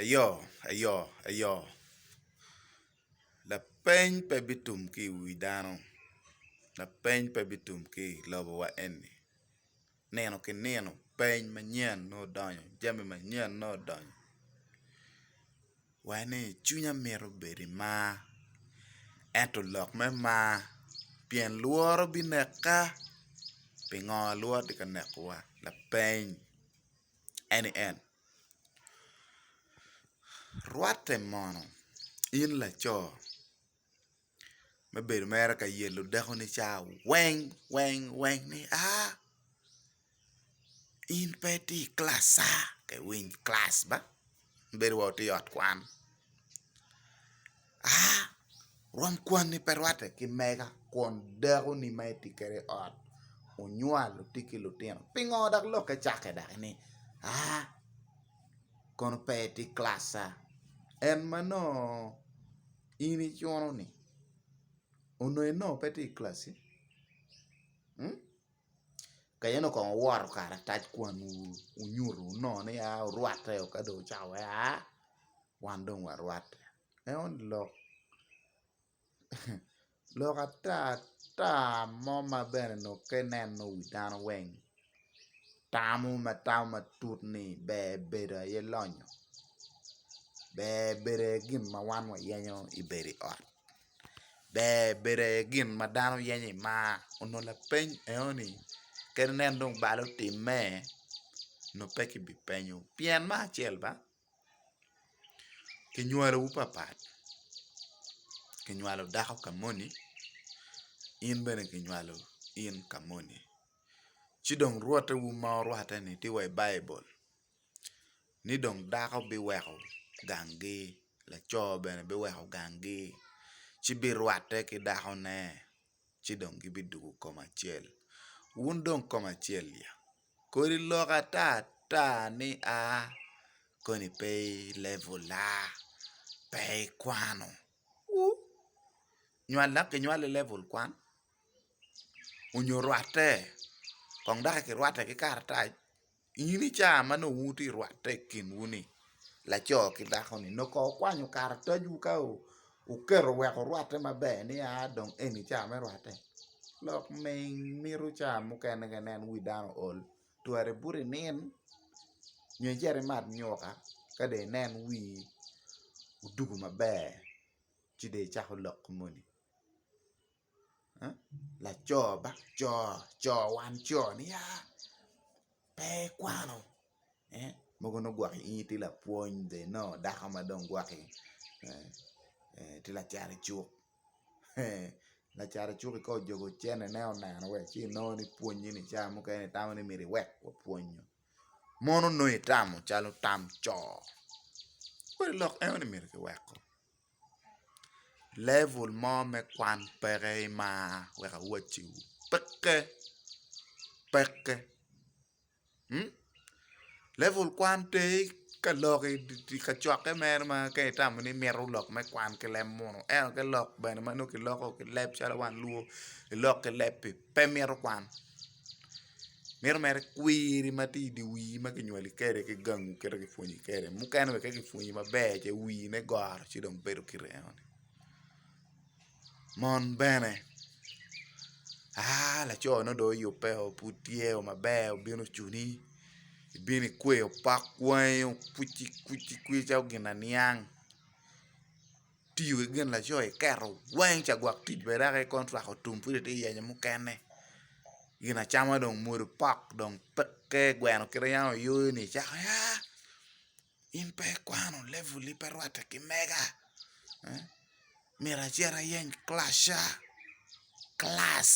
Eyo, eyo, eyo. Lapeny pe bitum ki i wi dano, lapeny pe bitum ki i lobo wa eni, nino ki nino peny manyen nongo odonyo, jami manyen nongo odonyo, wai ni cwinya mito bedo i mar, ento lok me mar pien lworo bineka, pingo lworo tye ka neko wa, lapeny. eni en, Rwatte mono in laco me bedo mere ka yelo dakoni ca weng weng weng ni aa, in pe itye i kilacca ka iwiny kilac ba, bedo wai watye i ot kwan. A. Rwom kwanni pe rwatte ki mega kun dakoni ma itye kwede i ot onywalo itye ki lutino. Pingo dok lokke cakke dok ni A. Kono pe itye i kilac A. En ma nongo in icuno-ni onongo pe tye i kilaci? ka in okong owoto karatac kwan wu wunyuto wunongo ni a orwatte o ka dong ocako wai a wan dong warwatte eno lok lok ata ata mo ma bene onongo ka ineno wi dano weng tamo ma tamo matut ni ber bedo aye lonyo ber bedo aye gin ma wan wayenyo i bedo i ot ber bedo aye gin ma dano yenyo i mar onongo lapeny enoni kadi nen dong balo timme onongo pe kibipenyo pien me acel ba kinywalowu papat kinywalo dako ka moni in bene kinywalo in ka moni ci dong rwottewu ma orwatte-ni tye wa i Baibul. ni dong dako biweko ganggi laco bene biweko ganggi ci birwatte ki dakone ci dong gibidwogo koma acel wun dong koma acel ya kodi lok ata ata ni a koni pe i level-la pe ikwano ur nywal dok kinywali i level kwan onyo rwatte kong daki kirwatte ki karatac. in i caa ma nongo wuti i rwatte i kinwu ni laco ki dako ni nongo ko wukwanyo karatacwu ka wuketo wek wurwatte maber ni a dong eni caa me rwatte lok ming mito caa mukene ka inen wi dano ool twari ibuto inin nyo icit imat nyuka ka dong inen wii odugo maber ci dong icako lok moni. laco ba co co wan co ni aa pe ikwano mogo nongo gwok inge tye lapwony the no dako ma dong gwoki tye lacat icuk lacat icuk-ki ka ojobo cente ne oneno wa ci nongo ni pwonye ni ca mukene itamo ni myero iwek wapwony nyo mono nongo itamo calo tam co kadi lok eno ni myero kiweko Level mo me kwan peke imar wek awacci peke peke level kwan pe ka lok i kacokke mere ma ka itamo ni imito lok me kwan ki leb munu ento ki lok bene ma nongo kiloko ki leb calo wan lur kilok ki leb pi pe mito kwan mito mere kwiri ma tye i dye wii ma kinywali kwede ki gangu kadi ki pwonyi kwede mukene bene ka kipwonyi maber ce wiine goro ci dong bedo kite eno ni mon bene aa laco ne dong oyubbe o pud tye o maber obino ocuni ibino ikweyo pok wangi okwicikwici kwica gin aniang tiyo ki gin laco iketo weng ca gwok tic bene dok ikono twako tum pud ite yenyo mukene gin acama dong mwodo pok dong peke gweno kite yam ayoyo ni icako ya in pe ikwano level ni pe rwatte ki mega myero acit ayeny class ca. kilac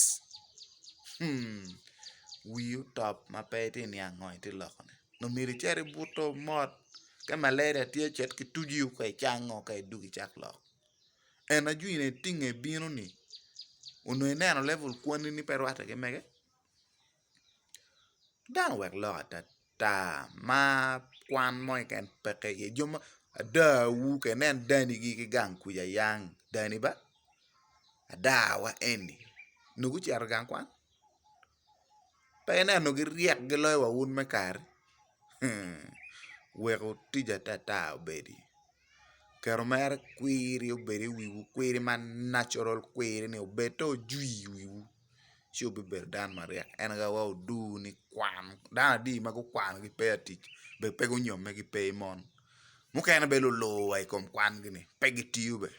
wii otop ma pe itye niang ngo itye loko ne nongo myero icit ibuto mot ka malaria tye cet ki tucu i kome icango ka idwogo icak lok en ajwi ni tye nge bino ni onongo ineno level kwani ni pe rwatte ki mege. Dano owek lok atata mar kwan mo keken peke iye ada wu keken nen dani gi ki gang kuca yang dani ba ada wa eni onongo gucito gang kwan pe inen onongo gi ryek gi loyo wa wun me kari wek otic atata obedi kero mere kwiri obedi i wiwu kwiri ma natural kwiri ni obed to ojwi i wiwu. ci wubibedo dano maryek. En aye awaco oduu ni kwan, dano adi ma gukwano ki pe i atic be pe gunyomme ki pe i mon, mukene bene lulur wa i kom kwangi ni pe gitiyo be,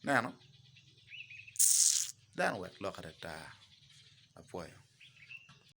ineno dano wek lok adada apwoyo.